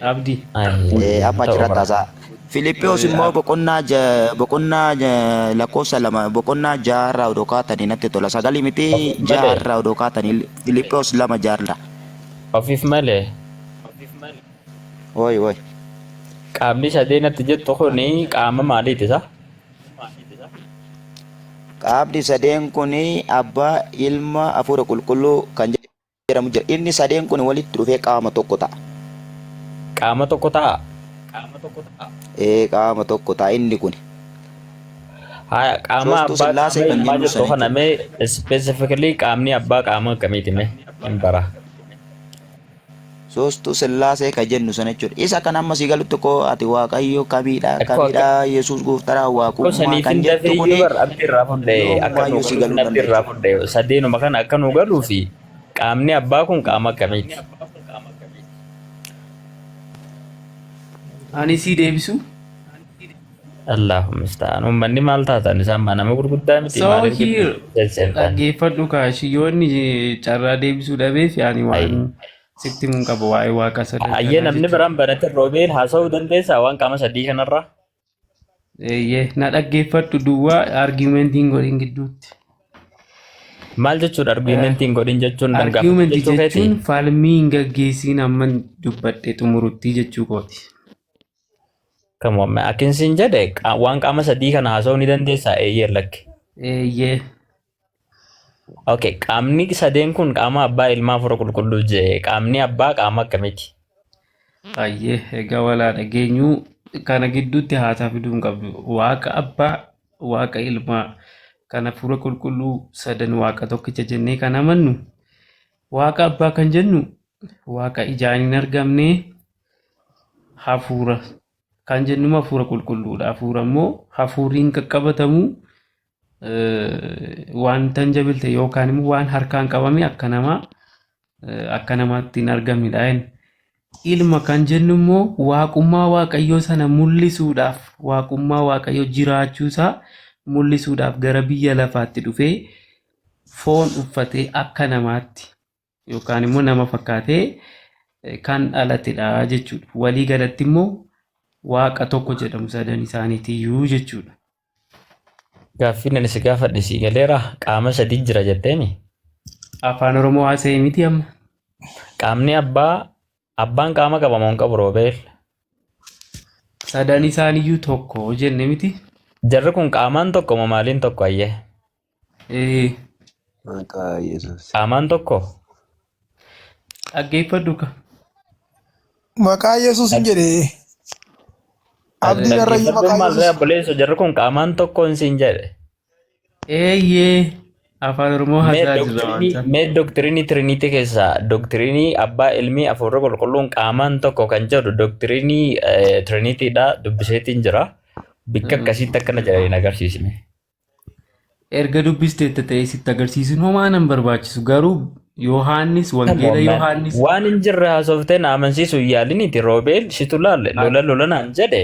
Abdi. Eh, amma achirratti haasaa. Filiphos immoo boqonnaa ja- boqonnaa ja- lakkoofsa lama boqonnaa ja'a irraa odoo kaatanii natti tola sagalii miti ja'a Malee. irraa odoo kaatanii Filiphos lama ja'a irraa. Ofiif malee. Woi woi. Qaamni sadeen atti jettu kun qaama maaliiti isaa? Qaamni sadeen kun abbaa ilma hafuura qulqulluu kan jedhu. jedhamu jira. Inni sadeen kun walitti dhufee qaama tokko ta'a. Qaama tokko ta'a? Ee qaama tokko ta'a inni kun. Haya qaama Soostuu abbaa Sillaasee qaama kan ilmaa jennu jettu sana kana mee specifically qaamni abbaa qaama akkamiiti mee hin bara. Soostuu sillaasee ka jennu sana jechuudha. Isa kan amma si galutti ko ati waaqayyo kamiidha Akkoo kamiidha akkoo yesuus gooftaadha akkoo waaqummaa saniif kan hin jettu dafee iyyuu kuni bar abdi irraa fudhe akka nuu yoomumaayyuu si galuuf galuu hin abdi irraa danda'u. fudhe sadeenuma kana akka nuu galuu fi qaamni abbaa kun qaama akkamiiti? Ani sii deebisu. Allahu musta'an. Ummanni maal taatan isaan maa nama gurguddaa miti So maaliif here giddu seentan? dhaggeeffadhu kaashi yoo inni carraa deebisuu dhabee fi ani waan sitti mun qaba waa'ee waaqa sadan Ayyee kanaa namni jechuudha. biraan banate roobeel haasa'uu dandeessaa waan qaama sadii kanarraa? Eeyyee na dhaggeeffadhu duwwaa argumentiin godhin gidduutti. Maal jechuudha argumentiin godhin jechuun nan gaafadhu Argument jechuu keeti? jechuun falmii hin gaggeessiin amma dubbadhe xumuruttii jechuu kooti. Kamoome akkin siin jedhe qa- waan qaama sadii kana haasa'uu ni dandeessaa eeyyee lakki. Eeyyee. Okay, qaamni sadeen kun qaama abbaa ilmaa fura qulqulluu jee qaamni abbaa qaama akkamiiti? Ayyee egaa walaa dhageenyuu kana gidduutti haasaa fiduu hin qabdu. Waaqa abbaa, waaqa ilmaa kana fuula qulqulluu sadan waaqa tokkicha jennee kan amannu. Waaqa abbaa kan jennu waaqa ijaan hin argamne hafuura kan jennu hafuura qulqulluudha. Hafuura immoo hafuurri hin qaqqabatamu wanta hin jabilte yookaan immoo waan harkaan qabame akka namaa akka namaatti hin argamnedha. Ilma kan jennu immoo waaqummaa waaqayyoo sana mul'isuudhaaf waaqummaa waaqayyoo jiraachuusaa mul'isuudhaaf gara biyya lafaatti dhufee foon uffatee akka namaatti yookaan immoo nama fakkaatee kan dhalatedha jechuudha. Walii galatti immoo waaqa tokko jedhamu sadan isaaniitiyyuu jechuudha. Gaaffiin ani si gaafadhe sii galeera qaama sadii jira jetteemi. Afaan Oromoo haasa'e miti amma. Qaamni abbaa abbaan qaama qaba moo hin qabu roobeel. Sadan isaaniyyuu tokko jenne miti. Jarri kun qaamaan tokko moo maaliin tokko ayyee? Ee, Maqaa Yesuus. Qaamaan tokko dhaggeeffadhu ka. Maqaa Yesuus hin jedhe. Abdiin irra iyyuu maqaa Dhaggeeffadhu maal Yesuus. obboleessa jarri kun qaamaan tokko hin siin jedhe. Eeyyee. Afaan Oromoo Mee hasaa jirra waan doktrinii ta'eef. mee doktrinii Trinity keessaa doktrinii abbaa ilmii afuurri qulqulluun qaamaan tokko kan jedhu doktrinii Trinity dha dubbiseetiin jira. Bikka akkasiitti akkana jedhanii hin agarsiisne. Erga dubbisteetta ta'ee sitti agarsiisuun homaa nan barbaachisu garuu Yohaannis wangeela Yohaannis Waan hin jirre haasoftee na amansiisu hin yaaliniti Roobeel situ laalle lola lola naan jedhe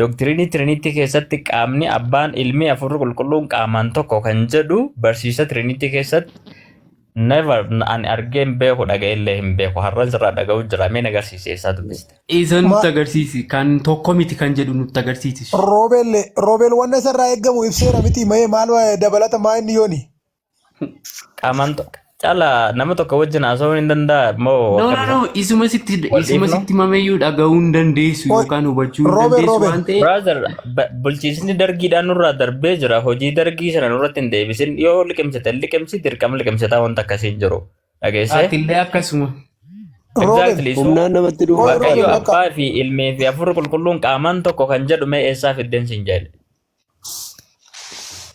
doktiriinii Trinity keessatti qaamni abbaan ilmi hafuurri qulqulluun qaamaan tokko kan jedhu barsiisa Trinity keessatti Never ani argee hin beeku dhaga'ee illee hin beeku har'an sirraa dhaga'uu jira mee nagarsiise eessaa dubbiste. Isa Ma- nutti agarsiisi kan tokko miti kan jedhu nutti agarsiisi. Roobel Roobel wanna isarraa eegamu ibseera miti mayee maal wa- dabalata maa inni yooni. Qaamaan to- cala nama tokko wajjin haasa'uu hin danda'a moo No no akkamitti? no isuma sitti Wal isuma dhiifna? sitti mameyyuu dhaga'uu hin dandeessu Oi, yookaan hubachuu hin Roobel dandeessu Roobel. waan ta'eef Brother Bulchiinsni dargiidhaan nurraa darbee jira. Hojii dargii sana nurratti hin deebisin. Yoo liqimsite liqimsi dirqama liqimsitaa wanta akkasii hin jiru. Dhageessee? Atillee akkasuma. Exactly. So, Humnaan namatti dhufu. Waaqayyo Roobe, abbaa fi ilmii fi hafuurri qulqulluun qaamaan tokko kan jedhu mee eessaa fiddeen siin jedhe.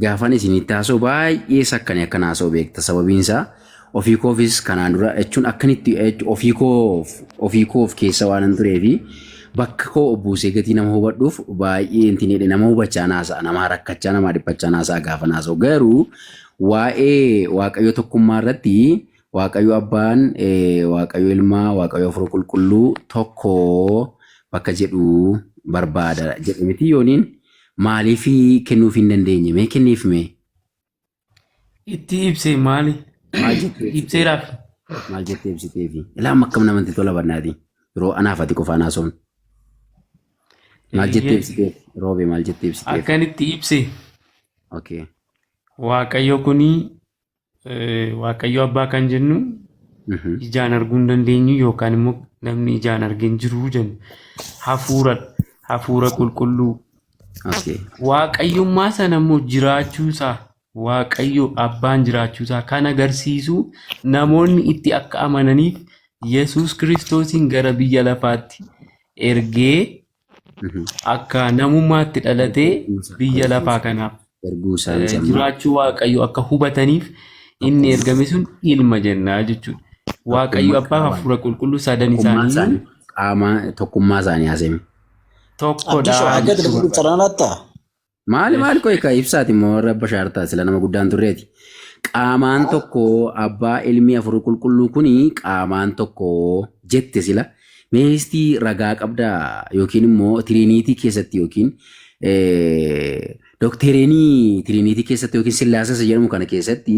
Gaafan isinitti haasoo baay'ee sakkani akkan haasoo beekta sababiin isaa ofii koofis kanaan dura jechuun akkanitti ofii koof ofii koof keessa waan hin turee fi bakka koo obbuusee gatii nama hubadhuuf baay'ee intin jedhe nama hubachaa naasa'a namaa rakkachaa namaa dhiphachaa naasa'a gaafan haasoo garuu waa'ee waaqayyo tokkummaa irratti waaqayyo abbaan waaqayyo ilmaa waaqayyo afur qulqulluu tokko bakka jedhu barbaada jedhe miti yooniin Maaliif kennuuf hin dandeenye mee kenniif mee Itti ibse maali? maal jettee ibsitee Ibseeraaf. maal jettee ibsitee fi ilaama akkam namatti tola bannaati yeroo anaaf ati qofa anaa soon maal jettee ibsitee roobee maal jettee ibsitee Akkanitti ibse okay waaqayyo kuni Waaqayyo abbaa kan jennu ijaan arguu hin dandeenyu yookaan immoo namni ijaan argee hin jiru jennu. Hafuura hafuura qulqulluu. Waaqayyummaa sana immoo jiraachuusaa Waaqayyo abbaan jiraachuusaa kan agarsiisu namoonni itti akka amananiif Yesuus Kiristoosiin gara biyya lafaatti ergee akka namummaatti dhalatee biyya lafaa kanaaf erguu isaa eh, jennaan. jiraachuu waaqayyo akka hubataniif inni ergame sun ilma jennaa jechuudha. Waaqayyo Tokkummaa abbaa qaamaa. hafuura qulqulluu sadan Tokkummaa isaanii isaanii qaamaa tokkummaa isaanii haasa'e. tokkodha Addisoo akka jechuu itti barbaada. fuftan laattaa? Maali maali qoy ka ibsaati immoo warra abba shaartaa sila nama guddaan turreeti. Qaamaan tokko abbaa ilmi afur qulqulluu kuni qaamaan tokko jette sila. Mee isti ragaa qabdaa yookiin immoo tiriiniitii keessatti yookiin dokteereenii tiriiniitii keessatti yookiin sillaasasa jedhamu kana keessatti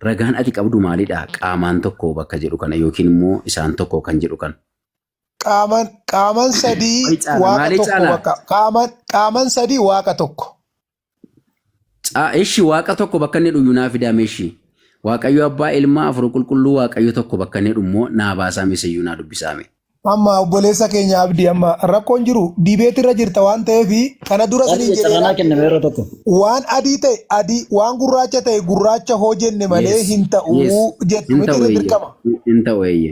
ragaan ati qabdu maalidha qaamaan tokko bakka jedhu kana yookiin immoo isaan tokko kan jedhu kana. Qaaman qaaman sadii Maali caala? waaqa Maali tokko caala? bakka qaaman qaaman sadii waaqa tokko. Caa- Ishi waaqa tokko bakka inni dhuyyu naa fidaa meeshi. Waaqayyo abbaa ilmaa afur qulqulluu waaqayyo tokko bakka inni dhummoo naa baasaa miseyyuu naa dubbisaame. Amma obboleessa keenya abdii amma rakkoon jiru diibeeti irra jirta waan ta'eef kana dura Waan siniin jedhe carranaa laatti kenname yeroo tokko. waan adii ta'e adii waan gurraacha ta'e gurraacha hoo jenne malee Yes. hin Yes. ta'uu jettu Hin miti ta'u irra eeyye. dirqama. Hin ta'u eeyye.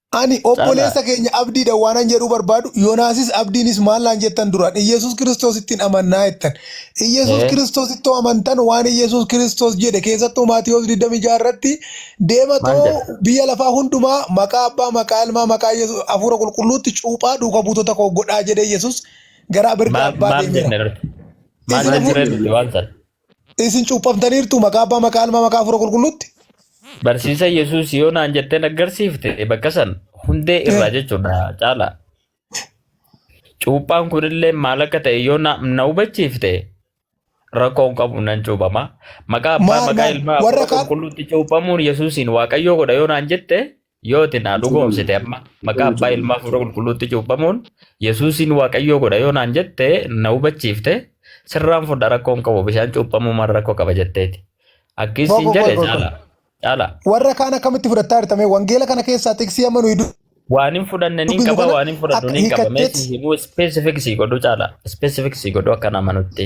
Ani Caalaa. obboleessa keenya abdiidha waanan jedhuu barbaadu, Yonaasis abdiinis maal naan jettan duraan? Iyyesuus Kiristoosittin amannaa jettan. Iyyesuus Ee. Kiristoosittoo amantan waan Iyyesuus Kiristoos jedhe keessattuu Maatiwoos 26 irratti Maal deematoo jedha? biyya lafaa hundumaa maqaa abbaa, maqaa ilmaa, maqaa Iyyesuus hafuura qulqulluutti cuuphaa duuka buutota koo godhaa jedhee Iyyesuus gara birdaa Maal abbaa maal deemeera. jenne irratti? Maal Isin Maal hafuura jedhee hafuura. dubbe waan sana? Isin cuuphamtaniirtu maqaa abbaa maqaa ilmaa maqaa hafuura qulqulluutti. Barsiisa Yesuus yoo naan jettee naggarsiifte bakka san hundee irraa jechuudha caala. Cuuphaan kunillee maal akka ta'e yoo na na hubachiifte rakkoon qabu nan cuuphama. Maqaa abbaa Maal, maqaa maal? ilmaa Warra hafuura kaan- qulqulluutti cuuphamuun Yesuusiin waaqayyoo godha yoo naan jette Yoo itti naa dhugoomsite amma maqaa abbaa ilmaa fuula qulqulluutti cuuphamuun Yesuusiin waaqayyoo godha yoo naan jette na hubachiifte sirraan fudha rakkoon qabu bishaan cuuphamuu maal rakkoo qaba jetteeti. Akkii siin Boqo, jedhe boqo, boqo. caala. Caala. Warra kaan akkamitti fudhattaa jirtame wangeela kana keessaa xiqsii amma nuyi Waan hin fudhanne niin dubbisnu qaba kana waan hin fudhadhu akka niin qaba meesii hiikatteetti himuu specific sii godhu caala. Specific sii godhu akka nama nutti.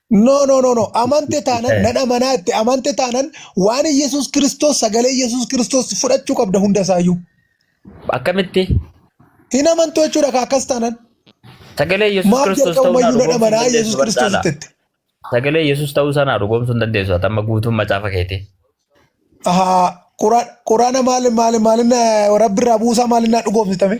No, no, no, no. Amante taanan, Eh, nan amanaa itti amante taanan waan Yesuus Kiristoos sagalee Yesuus Kiristoos fudhachuu qabda hunda isaayyuu. Akkamitti Hin amantu jechuudha kaa akkas taanan. sagalee Yesuus Maaf Kiristoos ta'uu naa jalqabumayyuu nan dhugoomsuu hin amanaa dandeessu Yesuus Kiristoos barcaala. itti. Sagalee Yesuus ta'uu isaa naa dhugoomsuu hin dandeessu. Ati amma guutuun macaafa keetii. Ahaa, Quraan Quraana maal maal maalin rabbi irraa buusaa maalin naa dhugoomsitame?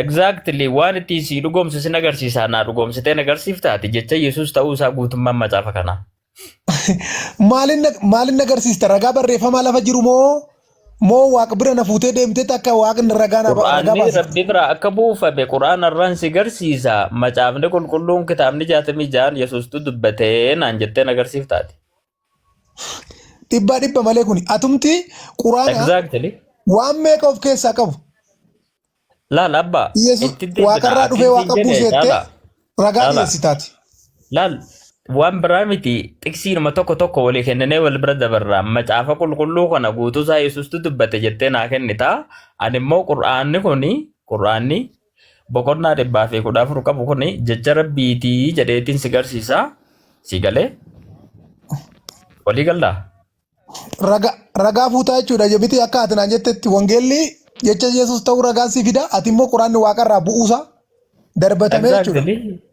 Exactly waan ittiin sii dhugoomsu sin agarsiisaa naa dhugoomsitee na agarsiiftaati jecha Yesuus ta'uu isaa guutummaan macaafa kanaa. Maalin na- maalin na agarsiista ragaa barreeffamaa lafa jiru moo moo waaq bira na fuutee deemtee akka waaqni ragaa na ragaa Quraanni baasifte? rabbi biraa akka buufame quraana irraan si garsiisa macaafni qulqulluun kitaabni jaatamii ja'an Yesuustu dubbatee naan jettee na agarsiiftaati. Dhibbaa dhibba malee kuni. Atumti quraana Exactly. waan meeqa of keessaa qabu. Laal abbaa. Yesus itti deebina. waaqarraa dhufee Akkin waaqa siin jedhe buuseettee caalaa. ragaa Caalaa. dhiyeessitaati. Laal waan biraa miti xiqsiinuma tokko tokko walii kenninee wal bira dabarra macaafa qulqulluu kana guutuusaa yesustu dubbate jettee naa kennita ani immoo qur'aanni kun qur'aanni boqonnaa dhibbaa fi kudha afur qabu kun jecha rabbiitii jedheetiin si garsiisa si galee walii gallaa Raga, ragaa fuutaa jechuudha jebitii akka ati naan jettetti wangeelli jecha Yesuus ta'uu ragaan si fida ati immoo quraanni waaqarraa bu'uusaa darbatamee jechuudha. Exactly.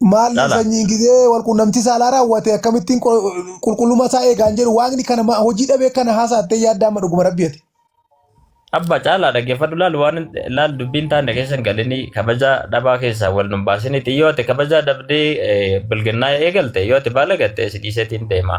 Maal Dhala. sanyiin gizee wal quunnamtii saalaa raawwate akkamittiin qo- qulqullummaa isaa eegaan jedhu waaqni kana ma- hojii dhabee kana haasaattee yaadda amma dhuguma rabbi ati. Abba caalaa dhaggeeffadhu laal waan laal dubbiin taane keessan galinii kabajaa dhabaa keessaa wal nun baasiniiti yoo ati kabajaa dhabdee eh, bilginnaa eegalte yoo ati baalagatte si dhiiseetiin deema.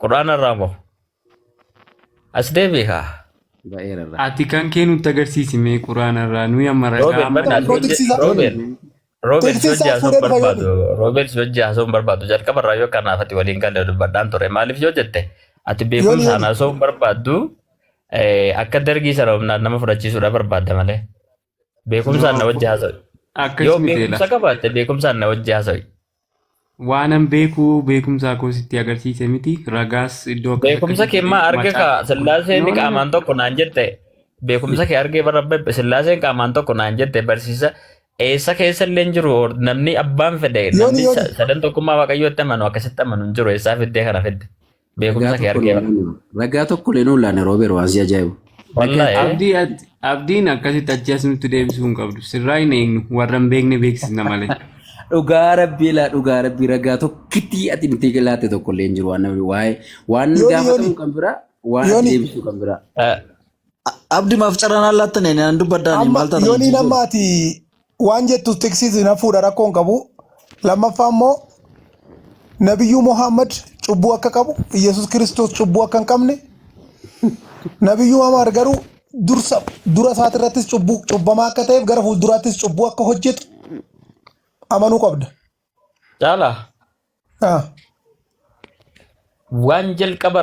Quraana irraa moo? As deebi'i kaa. Ba'eera irraa. Ati kan kee nutti agarsiisi mee quraana irraa nuyi amma ragaa Roobert amma bana Koo tiksisaa. Roobert Roobert Tekstii yoo isaa jaasoo fuudhee dhufa barbaadu Roobert yoo jaasoo barbaadu jalqaba irraa yoo kanaaf ati waliin galee dubbadhaan ture maaliif yoo jette ati beekumsa Yoon- anaasoo barbaaddu eh, akka dargii sana humnaan nama fudhachiisuudha barbaadda malee. Beekumsaan na wajji haasawi. Akkas Yoo miti beekumsa laata. qabaatte beekumsaan na wajji haasawi. Waanan beeku beekumsaa koo sitti agarsiise miti ragaas iddoo akkas Beekumsa akkasii kee maa arge macaa- kaa sillaaseen No, no, no. qaamaan tokko naan jette. Beekumsa kee argee bara bebbe sillaaseen qaamaan tokko naan jette barsiisa. Eessa keessa illee hin jiru or- namni abbaan fedhe namni yooni. sa- sadan tokkummaa waaqayyootti amanu akkasitti amanu hin jiru eessaa fiddee kana fidde. Beekumsa Ragaa kee tokko argee. nuun laanne. Ragaa tokko illee nuun laanne Roobeer waan si ajaa'ibu. Wallahi. eh? Abdii at- abdiin akkasitti achi as nutti deebisuu hin qabdu. Sirraa hin eegnu warra hin beekne beeksisna malee. Dhugaa rabbii laa dhugaa rabbii ragaa tokkitti ati nuti laatte tokko illee hin jiru waan namni waa'ee waan Yooni, gaafatamu yooni. kan biraa waan ati Yooni. deebisu kan biraa. Eh, Abdi maaf carraan allaattane naan dubbaddaani Amma maal taatan yooniin amma ati waan jettu tiksiis hin hafuudha rakkoo hin qabu. Lammaffaa immoo nabiyyuu Muhammad cubbuu akka qabu Yesuus Kiristoos cubbuu akka hin qabne nabiyyuu Muhammad garuu dursa dura isaati irrattis cubbuu cubbamaa akka ta'eef gara fuulduraattis cubbuu akka hojjetu amanuu qabda. Caalaa Ah. waan jalqaba